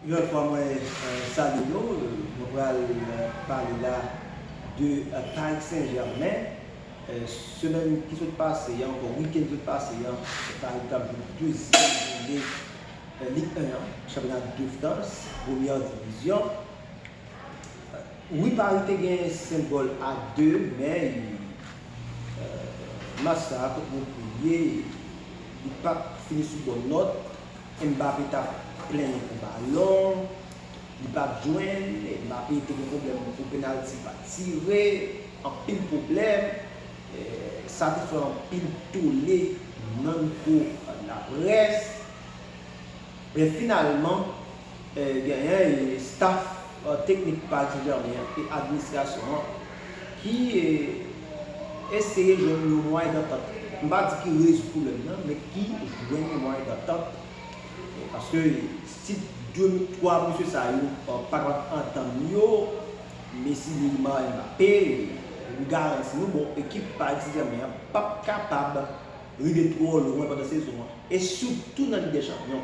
Yon lòt fwa mwen salye nou, mwen pral pale la de Paris Saint Germain, semèn ki sot pase an, onkò wikenn ki sot pase an, Paris tap jwe dezyèm joune Ligue 1 an, chanpyona de Frans, premyè divizyon, wi Paris te gen 5 gòl a 2 men match sa a kot Montpellier li pat fini sou bòn nòt. Mbappe tap plenyen pou balon Li pat jwenn e Mbappe te gen pwoblèm pou penalty pa tire Anpil pwoblèm Sa te fè anpil tole nan mikwo laprès Men finalman. Genyen staf teknik pa Ti Jèmen an e administrasyon an ki eseye jwenn yon mwayen dantant, m pa di ki rezoud pwoblèm nan, men ki jwenn yon mwayen dantant. Paske si 3 mesye sa yo pa kapab antann yo, Messi, Neymar, Mbappé, m garanti nou bon ekip pa Ti Jèmen an p ap kapab rive twò lwen pandan sezon an e sitou nan Lig dè Chanpyon.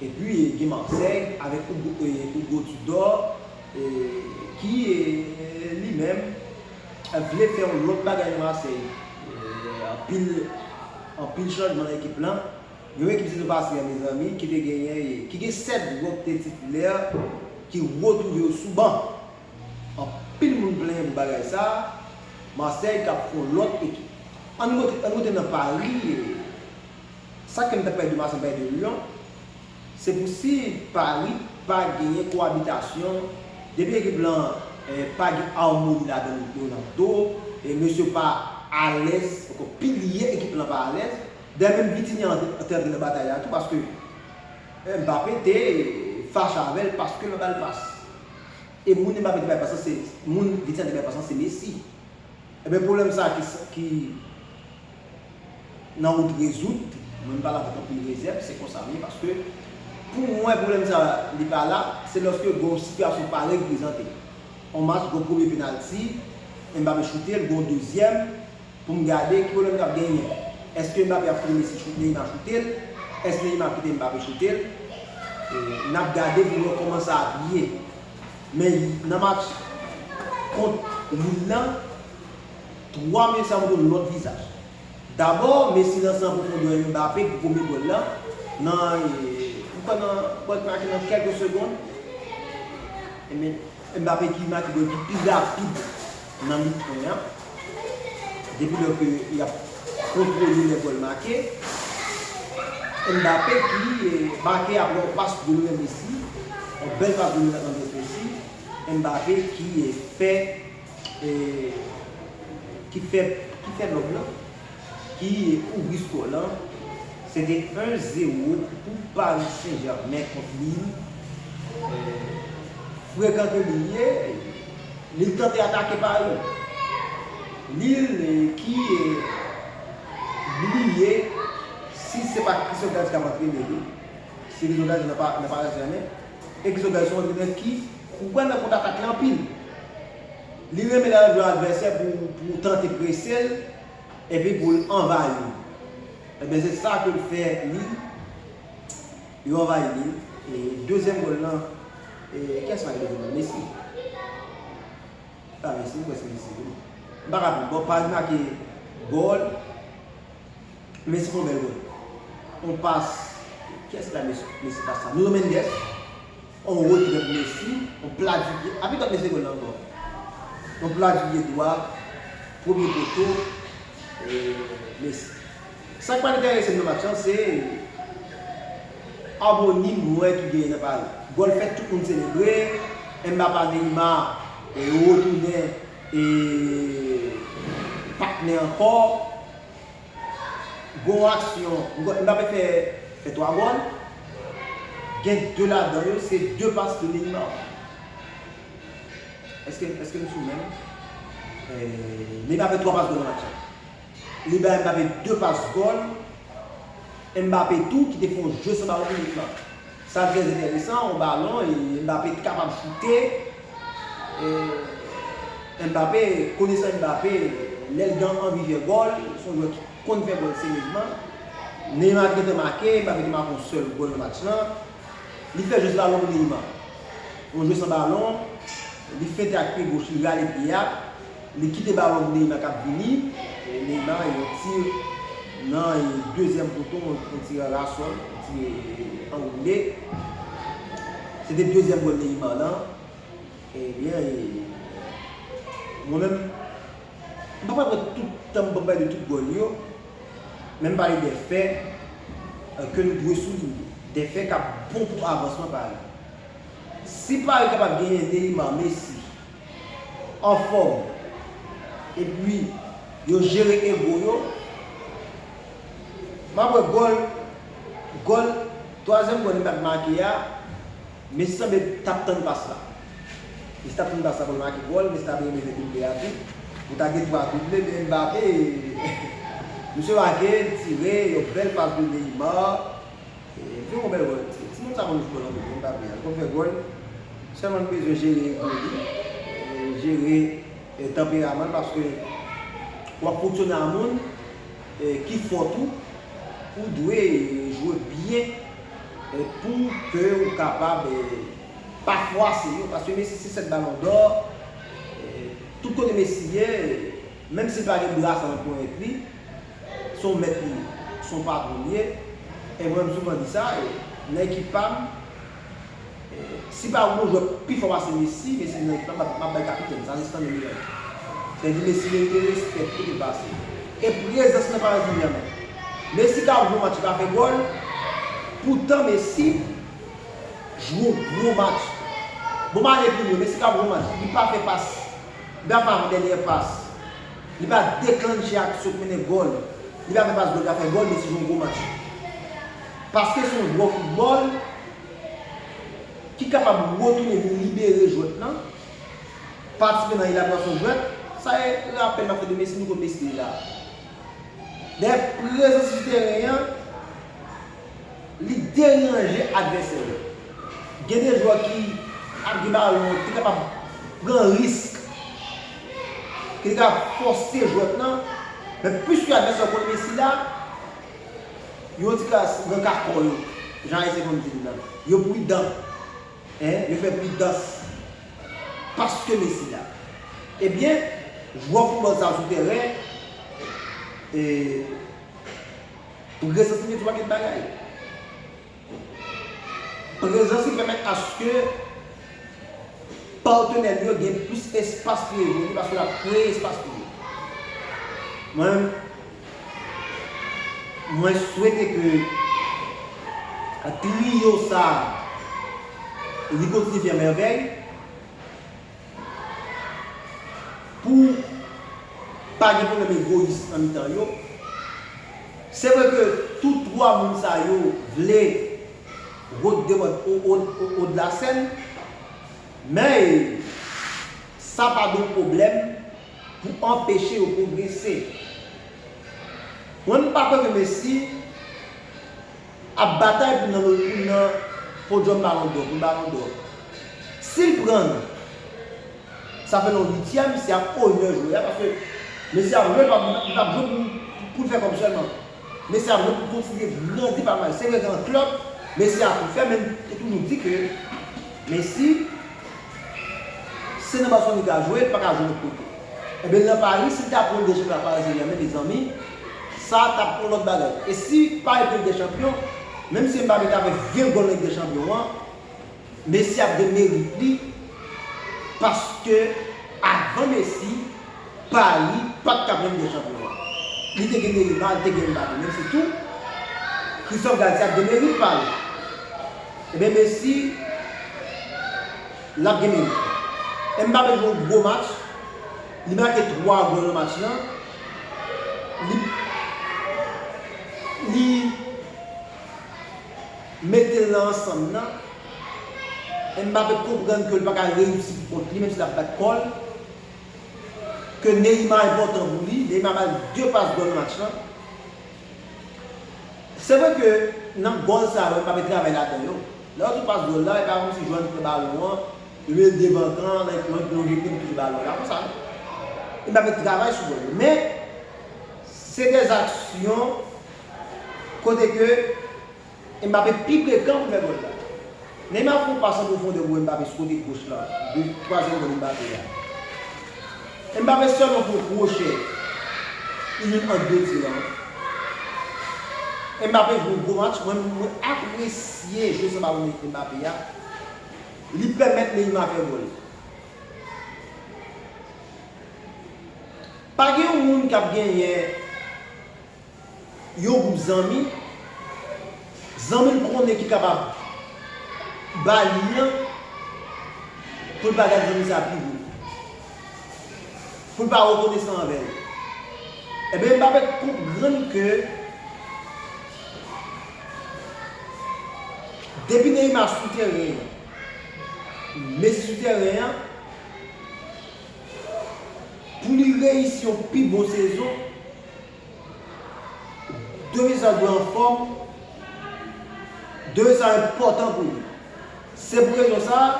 Epi gen Marseille avèk Hugo Tudor ki li menm vle fè yon lòt bagay nan Marseille. Anpil chanjman nan ekip lan. Yon ekip sezon pase an mezanmi ki te genyen, ki gen 7 jwè ki te titilè ki retwouve yo sou ban. Anpil moun plenyen pou bagay sa. Marseille kap fè yon lòt ekip. Ann goute nan Paris. Sa kèm ta pèdi mason pèdi lion se pou si pari pa genyen kowabitasyon depi ekip lan pa gen amoni ladann yo nan do mesye yo pa alèz ankò pilye ekip lan pa alèz dayè menm Vitinha te antre nan batay la tou paske Mbappé te fache avèl paske l pa bal pas e moun Mbappé te bay pas lan se moun Vitinha te bay pas lan se Messi ebyen pwoblèm sa ki nan wout rezoud, mwen m pale avèk anpil rezèv, se konsam ye paske pou mwen pwoblèm sa li pa la, se lòske gon sitiyasyon parèy ki prezante. On match gon premye penalti, Mbappé choute l, gon dezyèm, pou m gade ki pwoblèm kap genyen. Eske Mbappé ap kite Messi choute, Neymar choute l? Eske Neymar ap kite Mbappé choute l? Nap gade pou n wè kòman sa ap ye. Men nan match kont Lille lan. 3 mil sa montre yon lòt vizaj. Dabò, Messi lanse an pwofondè yon Mbappé pou premye gòl la nan m kwè nan gòl ki make nan kèlke segond. Mbappé ki make gòl ki pi rapid nan Lig 1 an depi lò ke y ap kontwole lè gòl make. Mbappé ki make aprè yon pas Lionel Messi, yon bèl pas Lionel Andrés Messi. Mbappé ki fè. ki fè nòb lan ki kouvri skò lan se te 1 0 pou Paris Saint Germain kont Lille frekan ke Lille ye Lille tante atake Paris Lille ki bliye si se pa Christophe Galtier kap antrene li se Christophe Galtier nan Paris Saint Germain e Christophe Galtier son antrenè ki Ou kwè nan kontatak li anpil. Li renmen lè l jwe advèsè pou pou tante prese l epi pou l anvayi l. Ebyen se sa ke l fè li. Yo anvayi li. E dezyèm gòl lan e kiyès make dezyèm lan? Messi? Se pa Messi? M kwè se Messi wi. M pa ka di. Bon Paris make gòl. Messi fè yon bèl gòl. Yon pas, kiyès ki bay Messi pas sa? Nuno Mendes. On ro di dòt mesi, on pla di pye api dòt mesi gòl ankò. On pla di pye dwa, premye poto, mesi. Sa k pa enterese m nan match lan se amoni m wè ki genyen nan Pari. Gòl fèt tout moun selebre, Mbapa Neymar retounen e patnè ankò. Bon aksyon nou ta pe fè fè 3 gòl gen 2 ladan yo se 2 pas de Neymar eske eske nou sou menm Neymar fè 3 pas gòl nan match la li bay Mbappé 2 pas gòl Mbappé tou ki te fè yon jeu san balon inik lan. Sa trè enteresan, yon balon e Mbappé t kapab choute e Mbappé konesan Mbappé lèl gen anvi fè gòl son jwè ki konn fè gòl serezman Neymar t gentan make Mbappé te make yon sèl gòl nan match lan li fè jès balon pou Neymar yon jwè san balon li fente ak pye goch li rale pye a. Li kite balon Neymar kap vini e Neymar yon tir nan dezyèm poto yon tir anrasòl yon tir anwoule se te dezyèm gòl Neymar lan ebyen mwen menm m pap pran tout tanm pou m pale de tout gòl yo men m pale de fè ke nou dwe soulinye de fè kap bon pou avansman Paris si Paris kapab genyen Neymar Messi anfòm epi yo jere ego yo map wè gòl gòl twazyèm gòl li pat make a Messi sanble tap tann pas la Messi tap tann pas la poul make gòl Messi ta dwe mete double a tou pou ta gen 3 double men Mbappé misye make tire yon bèl pas pou Neymar. Li fè yon bèl gòl. Ti nonm sa konn jwe gòl anpil wi, m pa bliye a. Li konn fè gòl. Sèlman li bezwen jere ego li, jere tanperaman l paske w ap fonksyone ak moun ki fò tou. Ou dwe jwe byen pou ke ou kapab pa fwase yo. Paske Messi se 7 balon dò. Tout kote Messi ye, menm si l pa gen brasa nan ponyèt li, Se yon mèt li ye, se yon patwon li ye. E mwen m souvan di sa, nan ekip pa m, si pa gen yon jwè pi fò pase Messi, Messi vin nan ekip la, m ap bay kapitèn, sa se Stanley Miranda. Sa vle di Messi merite respè pi ke pase. E prezans nan Paris Saint Germain. Messi ka ap jwe yon match li pa fè gòl, poutan Messi jwe yon gwo match. Bon malè pou li, Messi ka ap jwe yon match, li pa fè pas, li pa fè avandènyè pas. Li pa deklannche ak sot mennen gòl. Li pa fè pas gòl ta fè gòl men se yon gwo match. Paske se yon gwo foutbòl ki kapab retounen vin libere jwèt lan, patisipe nan elaborasyon jwèt. Sa e rapèl m ap fè de Messi, nou konn Messi deja. Dayè prezans li sou teren an. Li deranje advèsè yo. Gen de jwè ki ap gen balon an ki kapab pran risk, ki te ka poste jwèt lan, men pwiske advèsè yo konn Messi la, yo an ti kras nan ka kò yo, jan Ayisyen konn di l lan. Yo pridan. Yo fè pridans paske Messi la. Ebyen, jwè foutbòl sa yo sou tèren, e. Ou gen santiman sou anpil bagay. Prezans li pèmèt aske patenè li yo gen plis espas pou yo evolye paske l ap kreye espas pou yo. Mwen menm, mwen swete ke triyo sa a li kontinye fè mèvèy pou pa gen pwoblèm egoyis nan mitan yo. Se vre ke tout 3 moun sa yo vle rout de mòd Haut-de-la-Seine, men sa pa dwe pwoblèm pou anpeche yo pwogrese. Mwen m pa kwè ke Messi. ap batay pou nan pou l nan podyòm balon dò, pou l balon dò. Si l pran l, sa fè l yon uityèm, se ap onè jwè a paske mesye ap jwe, li pa ap jwe pou l fè kòb sèlman. Mesye ap jwe pou l kontribye, grandi palmarès. Se vre gen yon klèb, mesye a tou fè men yo toujou di ke Messi se nan Barcelone li ka jwe, li pa ka jwe lòt kote. Enben nan Paris, si l ta pran l dezyèm la Paris St-Germain mezanmi, Sa a t ap yon lòt bagay. E si Pari pran Lig dè Chanpyon, menm si Mbappe ta fè 20 gòl nan Lig dè Chanpyon an, Messi ap gen merit li paske avan Messi, Pari pa t ka pran Lig dè Chanpyon an. Li te gen Neymar, li te gen Mbappe. Menm si tou, Christophe Galtier ap gen merit pa l. Enben Messi, l ap gen merit li. Mbappe jwe yon gwo match. Li make 3 gòl nan match la. Li mete l nan ansanm nan. Mbappe konprann ke l pa ka reyisi pou kont li menm si l ap bat kò l. Ke Neymar enpòtan pou li. Neymar ba l 2 pas gòl nan match la. Se vre ke nan gòl sa yo Mbappe travay ladan yo. Lè yo sou pas gòl la, e pa kòmsi jwè an te pran balon an. Red devan kan like mwen epi yon gen pil pil balon pa konsa non e map met travay sou mwen men se des aksyon kote ke Mbappe pi pre kan pou fè gòl la Neymar fè yon pas an pwofondè pou Mbappe sou kote goch la de twazyèm gòl Mbappe a Mbappe sèlman fè yon kwochè li jwenn ant de ti lan Mbappe jwe yon gwo match mwen apresye jwe san balon Mbappe a. Li pèmèt Neymar fè gòl. Pa gen yon moun k ap genyen yon gwoup zanmi, zanmi l konnen ki kapab ba li an, pou l pa gad zanmi sa a pi wo, pou l pa rekonesan anvè l. Enben Mbappé konprann ke. Depi Neymar sou teren an, Messi sou teren an, pou li reyisi yon pi bon sezon, 2 zan dwe anfòm, 2 zan enpòtan pou li. Se pou rezon sa a,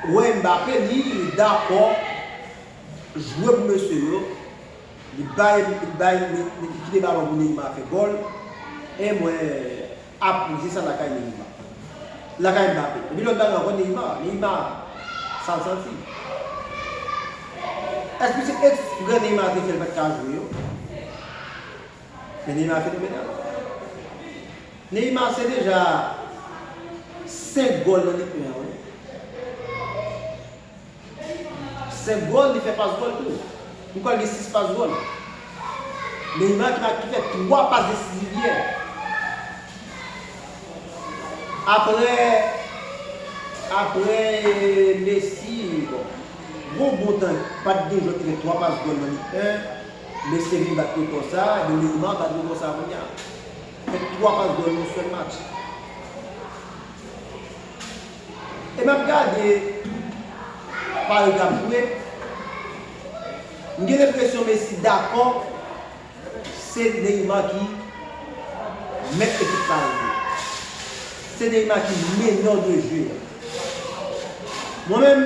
ou wè Mbappé li dakò jwe pou mesye yo. Li bay li bay li kite balon pou Neymar fè gòl e mwen aplodi sa lakay Neymar. Lakay Mbappé. Epi lòt bagay ankò Neymar, Neymar sa l santi. Èske se eksprè Neymar te fè l pa t ka jwe yo? Men Neymar fenomenal. Neymar se deja 5 gòl nan Lig 1 an wi. 5 gòl, li fè pas gòl tou. Li pral gen 6 pas gòl. Neymar ki pral ki fè 3 pas desiziv yè. Aprè aprè Messi bon yon bon tan pat gen jwè ki fè 3 pas gòl nan lig 1. Messi te vin bat rekò sa, ebyen Neymar bat rekò sa kounye a. Fè 3 pas gòl nan yon sèl match. E map gade pa yo tap jwe m gen lenpresyon Messi dakò se Neymar ki mèt ekip sa yo jwe. Se Neymar ki meneur de jeu a. Mwen menm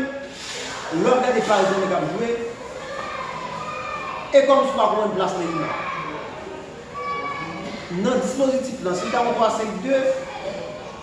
lè wap gade Paris Saint-Germain kap jwe e kòmsi w pa konprann plas Neymar nan dispozitif lan si l ta yon 3-5-2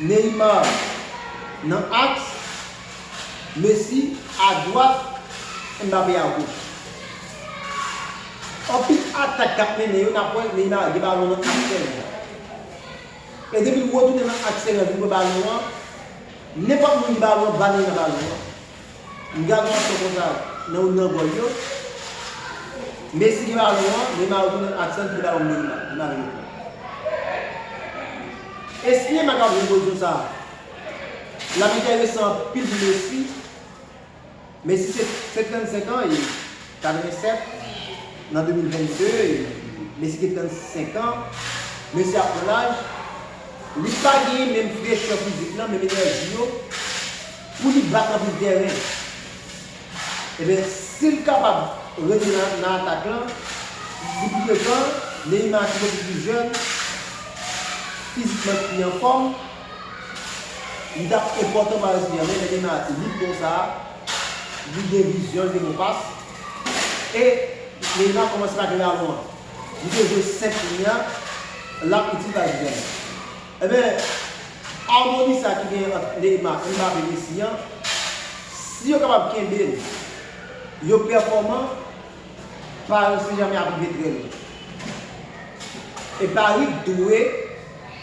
Neymar nan aks, Messi adwat, Mbappé agoch. Anpil atak k ap mennen yo nap wè Neymar gen balon nan aks tèren an. E depi l retounen nan aks tèren an vin pran balon an, nenpòt moun gen balon an ba Neymar balon an. M gad Marco konsa nan youn nan gòl yo. Messi gen balon an, Neymar retounen ak sèl piti balon pou Neymar. Neymar vin reprann. Esplyen pa ka jwenn pozisyon sa a. L ap enteresan anpil pou Messi. Messi se 55 an e 87 nan 2022. Messi gen 35 an. Messi ap pran laj. Li pa genyen menm frechè fizik lan, menm enèji yo. Pou li bat anpil tèren. Ebyen si l kapab rete nan atak lan pou pi de tan, Neymar ki bouke pi jèn, fizikman ki pi anfòm, li t ap enpòtan Paris St Germain, men Neymar ti lit konsa, li gen vizyon, li gen bon pas, e Neymar kòmanse pa gen balon an. Li te jwe 5 lyen an, l ap itil Paris St Germain. Enben, harmonie sa ki genyen ant Neymar, Mbappé, Messi an, si yo kapab kenbe l, yo pèfòman, Paris Saint Germain ap rive trè lwen. E Paris dwe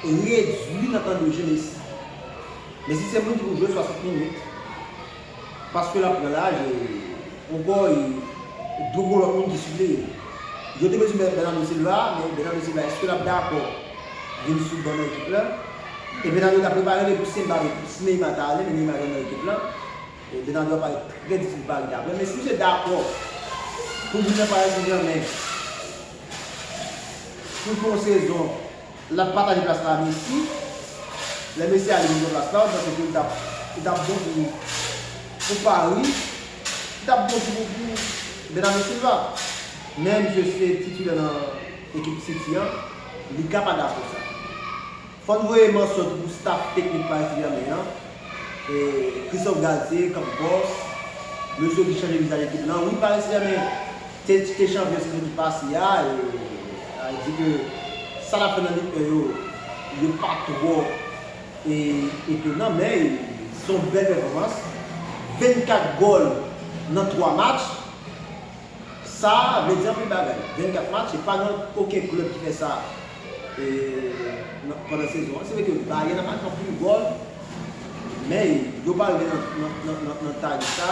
redwi nan tan de jeu Messi. Messi se moun ki pou jwe 60 minutes, Paske lap pran laj e Ogo e dlo pou lòt moun ki sou li. Yo te bezwen met Bernardo Silva, men Bernardo Silva eske lap dakò vin sou ban nan ekip la? E Bernardo ta prepare li pou Simba vin, si Neymar ta ale, men Neymar gentan nan ekip la. E Bernardo ap parèt trè difisil pou Paris daprè m, men si misye dakò poul vin nan Paris Saint Germain pou l fè yon sezon. Lap pataje plas la a Messi. Lè Messi ale jwenn plas la, ou panse ke li tap bon pou Paris? Li tap bon tou pou Bernardo Silva. Men misye se titulè nan ekip City an, li ka pa dakò sa. Fò n voye mansyon tou pou staff teknik Paris Saint-Germain an. Christophe Galtier, Campos, mesye ki chanje vizaj ekip lan. Wi Paris Saint-Germain. Se ti ke chanvre sezon ki pase a e di ke sa nap fè nan lig 1 yo, yo pa twò etonan men se yon bèl pèfòmans, 24 gòl nan 3 match sa vle di anpil bagay, 24 match se pa gen oken klèb ki fè sa pandan sezon an, se vre ke Bayern nan make anpil gòl men yo pa rive nan tag sa.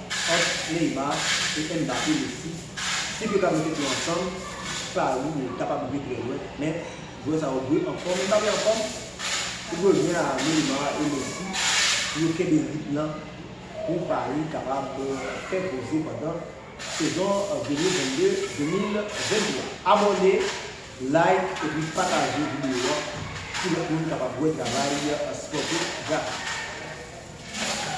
ant Neymar e Mbappé le 6, si yo ta mete tou ansanm, pari yo kapab rive trè lwen, men jwè sa yo dwe anfòm, Mbappé anfòm, li dwe byen a Neymar e Messi pou yo kenbe ritm nan pou Paris kapab fè koze pandan sezon 2022, 2023. Abòne, like epi pataje videyo an pou lòt moun kapab wè travay spòtif Jaka.